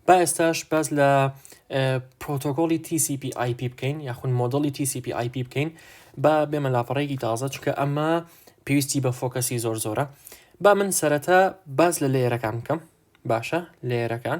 با ئێستاش باس لە پرۆتۆکۆلی TCP IP بکەین یاخود مۆدلی TCP IP بکەین با بێمە لاپەڕێکی تازە چکە ئەمە پێویستی بە فۆکەسی زۆر زۆرە با من سەرەتا باز لە لێرەکان بکەم باشە لێرەکان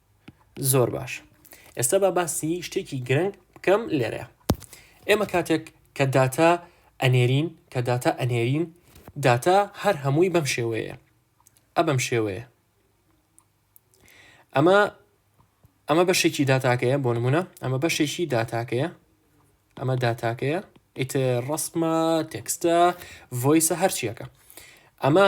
زۆر باش ئێستا با باسی شتێکی گرنگ بکەم لێرەیە ئێمە کاتێک کە داتا ئەنێرین کە داتا ئەنێرین داتا هەر هەمووی بەم شێوەیە ئە بەم شێوەیە ئەمە ئەمە بەشێکی داتاکەیە بۆ نمونە ئەمە بەشێکی داتاکەیە ئەمە داتاکەیە ئیتر ڕسمە تێکستە ڤۆیسە هەرچیەکە ئەمە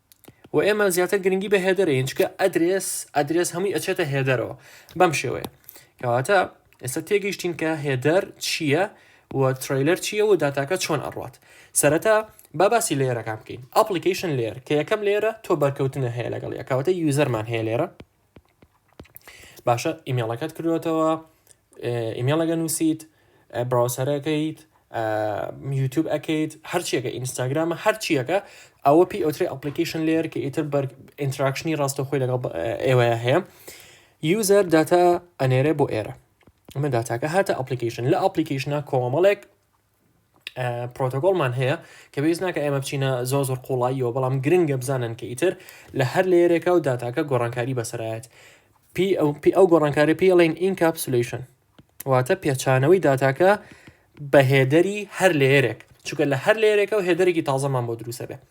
و ئێمە زیاتر گرنگی بە هێدەرەین چکە ئەدرێس ئەدرێس هەمووی ئەچێتە هێدەرەوە بەم شێوەیە کەواتە ئێستا تێگەیشتین کە هێدەر چییە و تریلەر چییە و داتاکە چۆن ئەڕات سەرەتا با باسی لێرەکان بکەین ئەپلیکیشن لێر کە یەکەم لێرە تۆ بەرکەوتنە هەیە لەگەڵ یەکەوتە یوزەرمان هەیە لێرە باشە ئیمێڵەکەت کردوێتەوە ئیمێڵەگە نووسیت براوسەرەکەیت یوتوب ئەکەیت هەرچیەکە ئینستاگرامە هەرچیەکە ئەوە پێی ئەوتری ئەپلیکیشن لێر کە ئیتر بەر ئینتراکشنی ڕاستەخۆی لەگەڵ ئێوە هەیە یوزەر داتا ئەنێرێ بۆ ئێرە ئەمە داتاکە هاتە ئەپلیکیشن لە ئەپلیکیشنە کۆمەڵێک پرۆتۆکۆڵمان هەیە کە بەویست ناکە ئێمە بچینە زۆر زۆر قوڵاییەوە بەڵام گرنگە بزانن کە ئیتر لە هەر لێرێکە و داتاکە گۆڕانکاری بەسەرایەت پی ئەو پی ئەو گۆڕانکاری پێ ئەڵێن ئینکاپسلیشن واتە پێچانەوەی داتاکە بە هێدەری هەر لێرێک چونکە لە هەر لێرێکە و هێدرێکی تازەمان بۆ دروستە بێت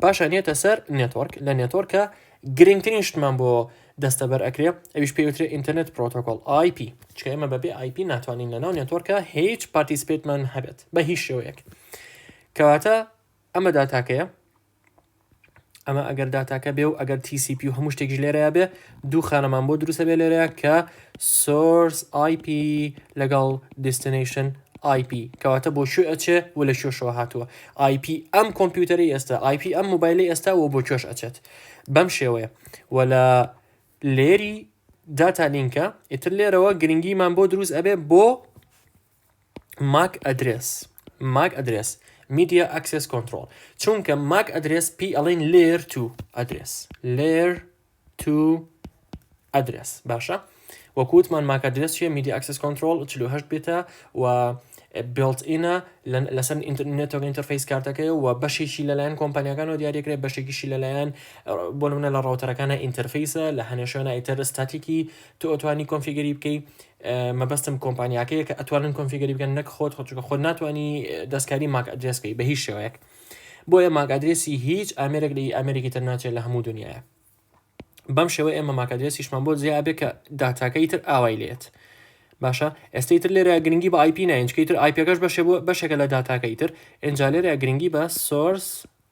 پاشان یەتە سەر نێتۆرک لە نێتۆرکە گرنگترین شتمان بۆ دەستەبەر ئەکرێ ئەویش پێوترێ ئینتەرنێت پرۆتۆکۆل آیP چکە ئێمە بەبێ آیP ناتوانین لە ناو نێتۆرکە هیچ پارتیسپێتمان هەبێت بە هیچ شێوەیەک کەواتە ئەمە داتاکەیە ئەمە ئەگەر داتاکە بێ و ئەگەر TCP و هەموو شتێک ژلێرەیە بێ دوو خانەمان بۆ دروست ئەبێ لێرە کە سۆرس IP لەگەڵ دیستنیشن IP کەواتە بۆ کوێ ئەچێ و لە کوێشەوە هاتووە IP ئەم کۆمپیوتەری ئێستا IP ئەم موبایلی ئێستا و بۆ کوێش ئەچێت بەم شێوەیە و لە لێری داتا لینکە ئیتر لێرەوە گرنگیمان بۆ دروست ئەبێ بۆ ماک ئەدرێس ماک ئەدرێس میدیا ئەکسس کۆنترۆڵ چونکە ماک ئەدرێس پی ئەڵین لێر تو ئەدرێس لێر تو ئەدرێس باشە وەکووتمان ماک ئەدرێس چیە میدیا ئەکسس کۆنترۆل 48 بێتە و بێڵت ئینە لەسەر ئینتەرنێتۆک ئینتەرفیس کارتەکەی و بەشێکی لەلایەن کۆمپانیەکانەوە دیارەکرێت بەشێکیشی لەلایەن بۆ منە لە ڕاوتەرەکانە ئینتەرفیسە لە هەنێشوێنە ئیتەر ستاتیکی تۆتوانی کۆنفیگەری بکەی مەبەستم کۆمپانیاکەیە کە ئەتوانن کۆنفیگەری بکەن نەک خۆت خۆ چونکە خۆت ناتوانی دەستکاری ماک ئەدرێس بکەی بە هیچ شێوەیەک بۆیە ماک ئەدرێسی هیچ ئامێرێک لە ئامێرێکی تر ناچێت لە هەموو دنیاە بەم شێوە ئێمە ماک ئەدرێسیشمان بۆ جیابێ کە داتاکەی تر ئاوای لێت باشە ئێستی تر لێرە گرنگی بە آیپی ناینچکەی تر آیپەکەش بەشێ بۆ بەشێکە لە داتاکەی تر ئەنجا لێرە گرنگی بە سۆرس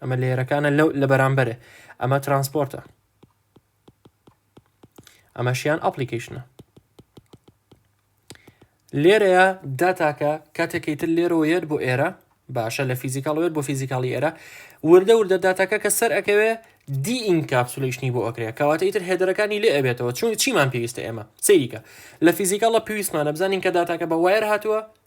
ئەمە لێرەکانە لەو لە بەرامبەرێ ئەمە ترانسپۆرتە ئەمەشیان ئەپلیکیشنە لێرەیە داتاکە کاتێکی تر لێرەوە یەت بۆ ئێرە باشە لە فیزیکاڵوێت بۆ فیزیکاڵی ئێرە وردە وردە داتاکە کە سەر ئەکەوێ دی ئینکاپسولیشنی بۆ ئەکرێت کەواتە ئیتر هێدرەکانی لێ ئەبێتەوە چون چیمان پێویستە ئێمە سیریکە لە فیزیکاڵە پێویستمانە بزانین کە داتاکە بە وایر هاتووە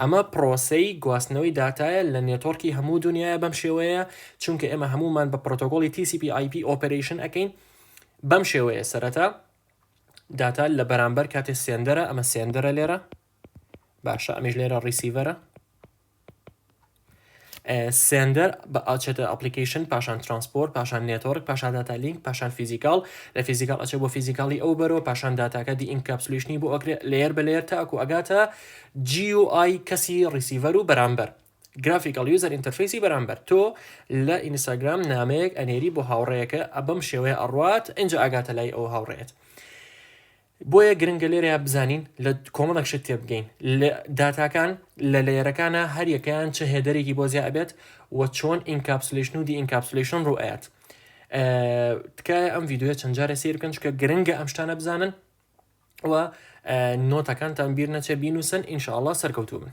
ئەمە پڕۆسەی گواستنەوەی داتایە لە نێتۆرکی هەموو دونیایە بەم شێوەیە چونکە ئێمە هەموومان بە پرۆتۆکۆلی TCP IP ئۆپەرەیشن ئەکەین بەم شێوەیە سەرەتا داتا لە بەرامبەر کاتێ سێندەرە ئەمە سێندەرە لێرە باشە ئەمیش لێرە ڕیسیڤەرە سێندەر ئەچێتە ئەپلیکەیشن پاشان ترانسپۆرت پاشان نێتۆرک پاشان داتا لینک پاشان فیزیکال لە فیزیکال ئەچێت بۆ فیزیکالی ئەو بەرەوە پاشان داتاکە دی ئینکاپسلیشنی بۆ ئەکرێت لەیەر بە لەیەر تاکو ئەگاتە جی و ئای کەسی ڕیسیڤەر و بەرامبەر گرافیکال یوزەر ئینتەرفیسی بەرامبەر تۆ لە ئینستاگرام نامەیەک ئەنێری بۆ هاوڕەیەکە ئەبەم شێوەیە ئەڕوات ئەجا ئاگاتە لای ئەو هاوڕێت بۆیە گرنگە لێرەیا بزانین لە کۆمەڵێک شت تێبگەین لە داتاکان لە لەیەرەکانە هەر یەکەیان چه هێدەرێکی بۆ زیا ئەبێت و چۆن ئینکاپسلیشن و دی ئینکاپسلیشن ڕوو ئەیات تکایە ئەم یددیوە چەند جارە سیر بکەن چکە گرنگە ئەم شتانە بزانن و نۆتەکانتان بیر نەچێ بینوسن ئینشاءله سەرکەوتوو بن